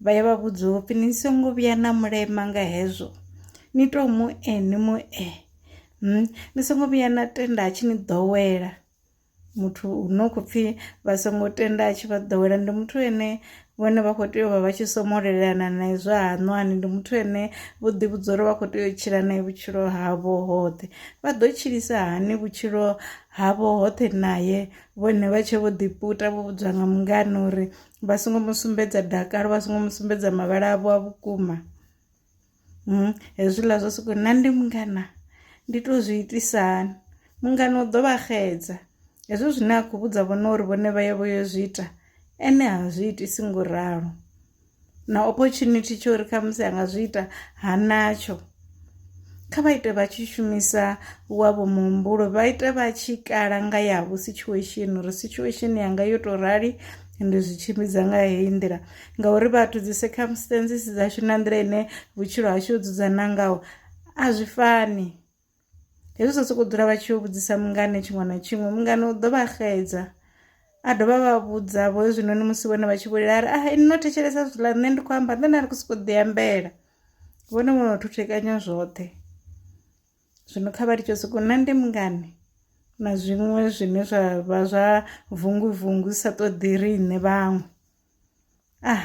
vha ya vha vhudza upfhi ni songo vhuya na mulema nga hezwo ni to mu e ni mu e hmm? ni songo vhuya na tenda a tshi ni ḓowela muthu no khou pfhi vha songo tenda a tshi vha ḓowela ndi muthu ene vhone vha khou tea u vha vha tshi somolelana na izwo haṋwani ndi muthu ane vho ḓivhudza uri vha khou tea u tshila nae vhutshilo havho hoṱhe vha ḓo tshilisa hani vhutshilo havho hoṱhe naye vhone vha tshe vho ḓiputa vho vhudzwa nga mungana uri vha songo mu sumbedza dakalo vha songo mu sumbedza mavhala avho a vhukuma hmm, hezwiḽa zwa soko nna ndi mungana ndi to zwi itisa hani mungana u ḓo vha xedza hezwo zwine a khou vhudza vhone uri vhone vha ye vho yo zwi ita ene ha zwi itisi ngo ralo na opportunity tsho uri khamusi a nga zwi ita ha natsho kha vha ite vha tshi shumisa wavho muhumbulo vha ite vha tshi kala nga yavho situation uri situation yanga yo tou rali ndi zwi tshimbidza nga heyi nḓila ngauri vhathu dzi circumstances dzashu na nḓila ine vhutshilo hashu ho dzudzana ngaho a zwi fani hezwi zwa sokou dzula vha tshi yo vhudzisa mungane tshiṅwe na tshiṅwe mungane u ḓo vha xedza a dovha vha vhudza vho hezwinoni musi vhone vha tshi vhulela a ri a ah, no thetshelesa zwiḽa nṋe ndi khou amba nṋe na ri khou sokou ḓi ambela vhone vho no thuthekanya zwoṱhe zwino kha vha litsho sokou na ndi mungani na zwiṅwe zwine zwa vha zwa vungu vungu sa ṱoḓi riṋe vhaṅwe ah.